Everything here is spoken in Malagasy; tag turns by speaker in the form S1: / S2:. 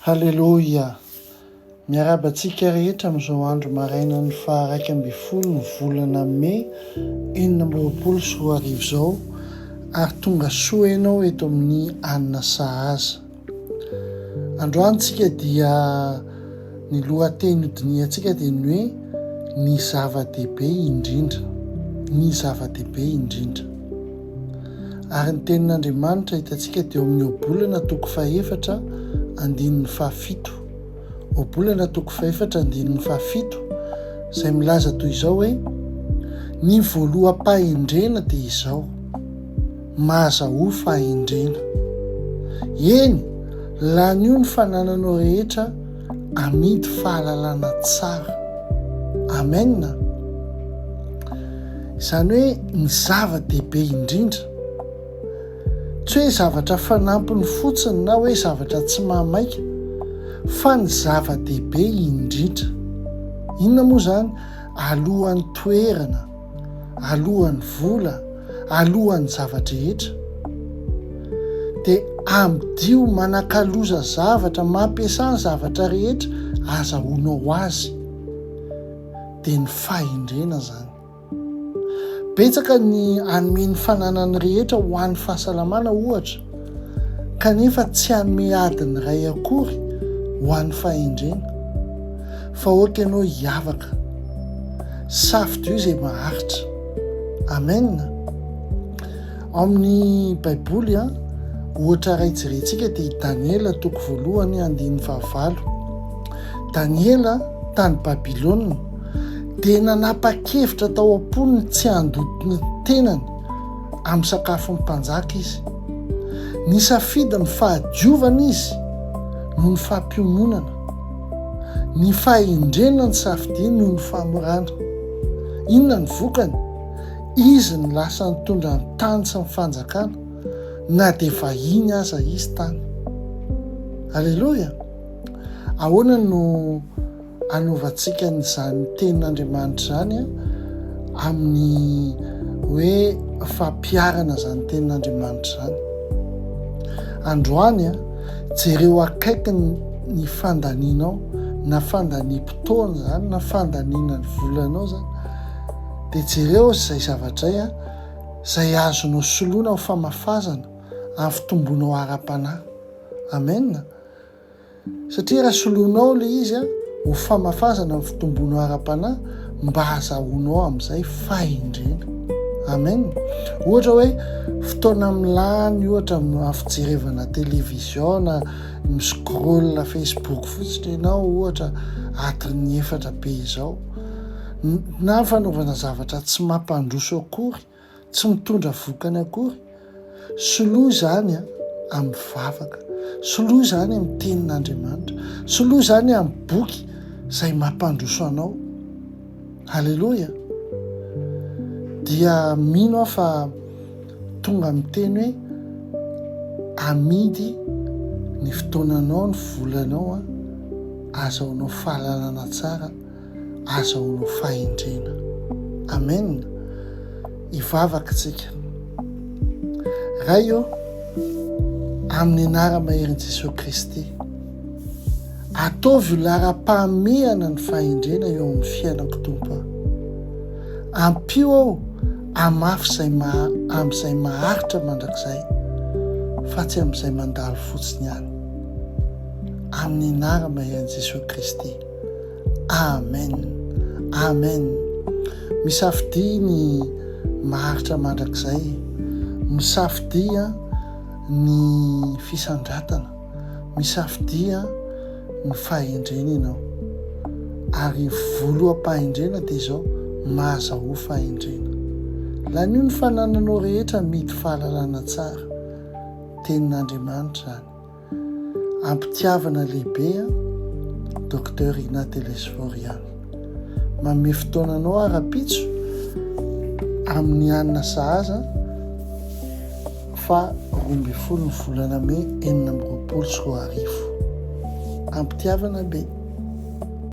S1: Haleloia! Miarahaba antsika rehetra amin'izao andro marainan'ny faha iraika ambin'ny folo ny volana May enina amby roapolo sy roa arivo izao ary tonga soa ianao eto amin'ny Anona Sahaza. Androany tsika dia ny lohateny hodinihantsika dia ny hoe ny zava-dehibe indrindra. Ny zava-dehibe indrindra. Ary ny Tenin'Andriamanitra hitantsika dia ao amin'ny Ohabolana toko fahefatra andininy fahafito. Ohabolana toko fahefatra andininy fahafito izay milaza toy izao hoe Ny voaloham-pahendrena dia izao, mahazahoa fahendrena. Eny, lanio ny fanananao rehetra Amidy fahalalana tsara. Amen a! Izany hoe ny zava-dehibe indrindra, tsy hoe zavatra fanampiny fotsiny na hoe zavatra tsy mahamaika, fa ny zava-dehibe indrindra. Inona moa izany? Alohan'ny toerana. alohan'ny vola, alohan'ny zava-drehetra. Dia amidio manakaloza zavatra, mampiasà ny zavatra rehetra azahoanao ho azy. Dia ny fahendrena izany. Betsaka ny hanome ny fananany rehetra ho an'ny fahasalamana ohatra, kanefa tsy hanome adiny iray akory ho an'ny fahendrena, fa ok ianao hiavaka, safidio izay maharitra. Amen. Ao amin'ny Baiboly, a, ohatra iray jerentsika dia i Daniela toko voalohany andininy fahavalo. Daniela tany Babylona dia nanapa-kevitra tao am-pony tsy handoto ny tenany amin'ny sakafon'ny mpanjaka izy. Nisafidy ny fahadiovana izy noho ny fampiononana, ny fahendrena ny safidiany noho ny famorana. Inona ny vokany? Izy no lasa nitondra ny tany sy ny fanjakana, na dia vahiny aza izy tany. Aleloia! Ahoana no Hanovantsika an'izany Tenin'Andriamanitra izany amin'ny hoe fampiharana izany Tenin'Andriamanitra izany. Androany, jereo akaiky ny fandanianao, na fandaniam-potoana izany, na fandaniana ny volanao izany, dia jereo izay zavatra izay, izay azonao soloina ho famafazana amin'ny fitomboanao ara-panahy. Amen. satria raha soloinao ilay izy a, ho famafazana ny fitomboanao ara-panahy mba hazahoanao amin'izay fahendrena. Amen. Ohatra hoe fotoana amin'ny lany ohatra amin'ny fijerevana télévision na mi-scroll Facebook fotsiny ianao ohatra adiny efatra be izao na fanaovana zavatra tsy mampandroso akory tsy mitondra vokany akory. Soloy izany amin'ny vavaka, soloy izany amin'ny tenin'Andriamanitra, soloy izany amin'ny boky izay mampandroso anao. Aleloia! Dia mino aho fa tonga amin'ny teny hoe amidy ny fotoananao, ny volanao, azahoanao fahalalana tsara. aza ho no fahendrena. Amen! Hivavaka tsika. Ray ô, amin'ny anara-maherin'i Jesoa Kristy, ataovy ho laharam-pahamehana ny fahendrena eo amin'ny fiainako tompo. Ampio aho amafy izay maha amin'izay maharitra mandrakizay fa tsy amin'izay mandalo fotsiny ihany. Amin'ny anara-maherin'i Jesoa Kristy. Amen Amen misafidia ny maharitra mandrakizay misafidia ny fisandratana misafidia ny fahendrena ianao ary voloham-pahendrena dia izao mahazahoa fahendrena lanio ny fanananao rehetra mety fahalalana tsara tenin'Andriamanitra izany Am-pitiavana lehibe an, Docteur Ina Telesforiano. Manome fotoananao aho rahampitso amin'ny alina sahaza fa roa ambin'ny folo ny volana mey enina amby roapolo sy roa arivo. Am-pitiavana be.